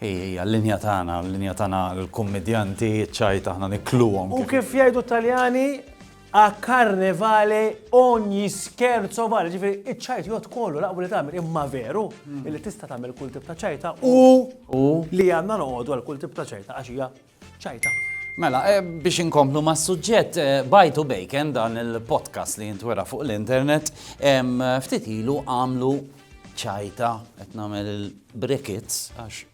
Hi hija l-linja tagħna, l-linja tagħna l-kummidjanti, ċ-ċajt aħna nikluhom. U kif jgħidu t-Taljani, a carne vale ogni scherzo vale, ġifieri iċ-ċajt jgħodd kollu laqbu li tagħmel imma veru li tista' tagħmel kull tip ta' ċajta u li għandna noqogħdu għal kull tip ta' ċajta għax hija ċajta. Mela, eh, biex inkomplu ma' suġġett eh, bajtu bejken dan il-podcast li jintwera fuq l-internet, ftit ilu għamlu ċajta, qed nagħmel il-brickets, għax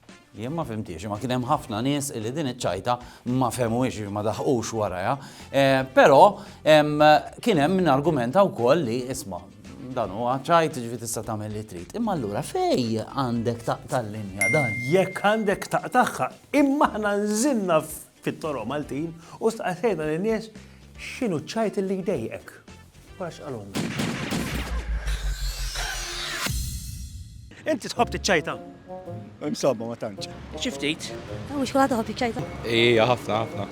jien ma fimtiex, ma kien hemm ħafna nies li din iċ-ċajta ma femux ma daħqux waraja. Eh, però kien hemm min argumenta wkoll li isma' dan huwa ċajt ġifi tista' tagħmel li trid. Imma allura fej għandek taqta' l-linja dan? Jekk għandek taqtaħħa, Imma aħna nżilna fit-toroq Maltin u staqsejna lin-nies x'inhu ċ-ċajt li jdejjqek. Wara x'qalulna. Inti tħobb tiċċajta? Insomma, ma tantx. Xi ftit. Mhux kulħadd iħobb jiċċajta. Ija, ħafna, ħafna.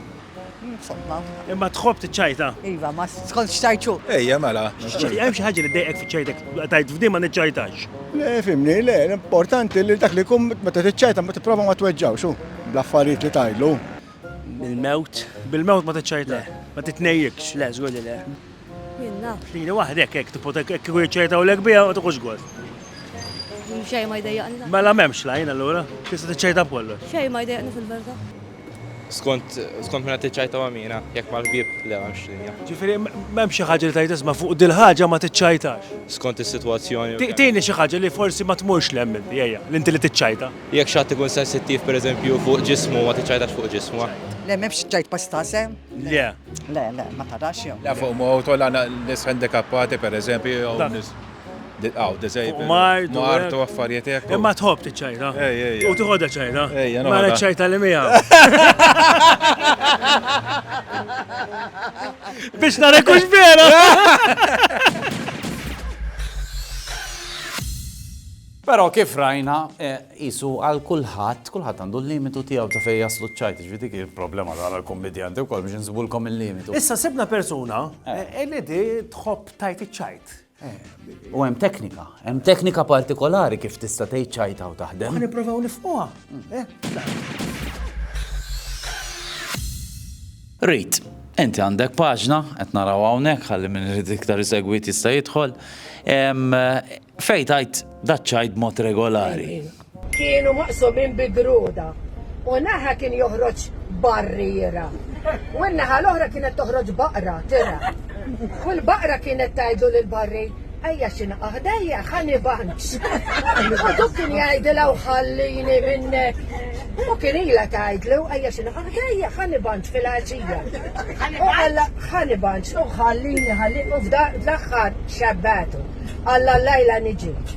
Insomma. Imma tħobb tiċċajta. Iva, ma skont xtajċu. Ejja, mela. Hemm xi ħaġa li dejqek fiċ-ċajtek, tajt f'din ma niċċajtax. Le, fimni, le, l-importanti li dak li jkun meta tiċċajta ma tipprova ma tweġġawx hu, bl-affarijiet li tajlu. Bil-mewt. Bil-mewt ma tiċċajta. Ma titnejjikx. Le, żgur li le. Jien naf. Lili waħdek hekk tipota hekk kieku jiċċajtawlek biha ma tuħux gost. Xejn ma jdejjaqni. Mela m'hemmx lajn allura, tista' tiċċajta b'kollox. Xejn ma jdejjaqni fil-verità. Skont skont minn qed tiċċajta ma' mina, jekk mal-ħbieb le m'hemmx linja. Ġifieri m'hemm xi ħaġa li tgħid isma' fuq dil-ħaġa ma tiċċajtax. Skont is-sitwazzjoni. Tini xi ħaġa li forsi ma tmurx 'l hemm inti, ejja, li inti li tiċċajta. Jekk xi ħadd ikun sensittiv pereżempju fuq ġismu ma tiċċajtax fuq ġismu. Le m'hemmx ċċajt pastase. Le. Le, le, ma tarax jew. La fuq mowt u la nies ħendikappati pereżempju jew nies. Nilqgħu disabled. Fuq mard. Fuq mard u affarijiet hekk. Imma tħobb tiċċajta. Ej, ej. U tiħodha ċajta. Ej, jena. Mara ċajta li miegħu. Biex narek hux vera. Però kif rajna, jisu eh, għal kulħadd, kulħadd għandu l-limitu tiegħu ta' fejn jaslu ċajt, ġvidi kif problema ta' għal kommedjanti wkoll biex nżibulkom il-limitu. Issa sibna persuna eh. Eh, li di tħobb tajt iċ-ċajt. U hemm teknika, hemm teknika partikolari kif tista' tgħid ċajta u taħdem. Ħa nipprovaw nifqoha. Eh? Rit, inti għandek paġna, qed naraw hawnhekk ħalli minn irid iktar isegwit jista' jidħol. Fej tajt daċċajt mod regolari. Kienu maqsumin bi gruda u naħa kien joħroġ barriera u n-naħa l-oħra kienet toħroġ baqra, tira. U l-baqra kienet tgħidlu lill-barri, Ejja xi naqa' ħdejja, ħa nibanx. U dik kien jgħidilha u ħallini minnek. U kien ilha tgħidlu, Ejja xi naqa' ħdejja, ħa nibanx fil-għaġija. U alla ħa nibanx u ħallini ħallini u f'dan l-aħħar xebbatu. Alla lajla niġi.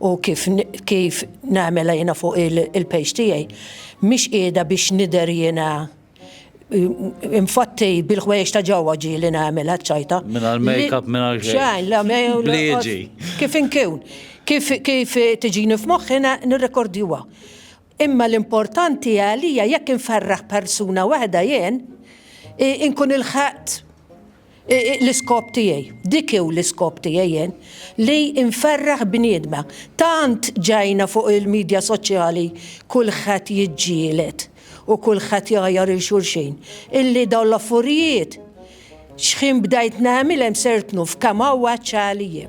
u kif kif nagħmilha jiena fuq il-page tiegħi mhix qiegħda biex nidher jiena infatti bil-ħwejjeġ ta' ġewwa ġieli nagħmilha ċajta. Minn għal make-up minn għal xejn. la Liġi. Kif inkun. Kif kif tiġini f'moħħi nirrekordjuha. Imma l-importanti għalija jekk inferraħ persuna waħda jien, inkun ilħaqt l-iskop tiegħi. Dik hu l-iskop tiegħi jien, li nferraħ bniedma. Tant ġejna fuq il-midja soċjali kulħadd jiġġieled u kulħadd jgħajjar 'il xulxin, illi dawn l-affurjiet x'ħin bdajt nagħmilhem sirt nuf kemm għawwaġġ għaliji.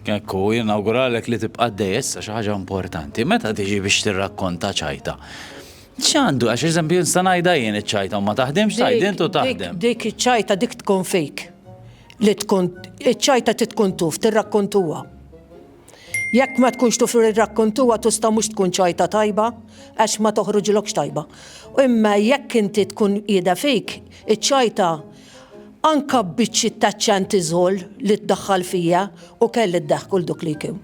Hekk hu, jien nawguralek li tibqa' għaddej issa xi ħaġa importanti. Meta tiġi biex tirrakkonta ċajta? ċandu, għax eżempju nista' ngħidha jien iċ-ċajta u ma taħdimx tgħid int u taħdem. Dik iċ-ċajta dik tkun fejk. Li tkun iċ-ċajta ti tkun tuf tirrakkontuha. Jekk ma tkunx tuf irrakkontuha tista' mhux tkun ċajta tajba għax ma toħroġilokx tajba. Imma jekk inti tkun qiegħda fejk, iċ-ċajta Anka b'biċċiet ta' ċantiżol li ddaħħal fija u kelli d-daħk kull duk li jkun.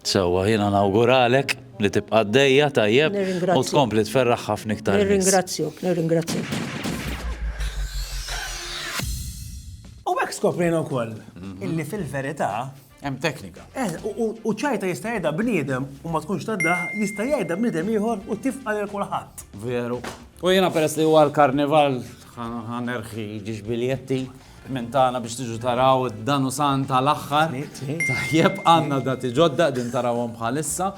Sewwa, jiena nawguralek li tibqa' għaddejja tajjeb u tkompli tferraħ ħafna iktar nies. Nirringrazzjok, nirringrazzjok. U hekk skoprejna wkoll illi fil-verità Hemm teknika. Eh, u ċajta jista' jgħidha bniedem u ma tkunx taddaħ, jista' jgħidha bniedem ieħor u tifqa' lil kulħadd. Veru. U jiena peress li huwa l-karnival ħanerħi ġiex biljetti minn tagħna biex tiġu taraw dan u san tal-aħħar. Tajjeb għandna dati ġodda din tarawhom bħalissa.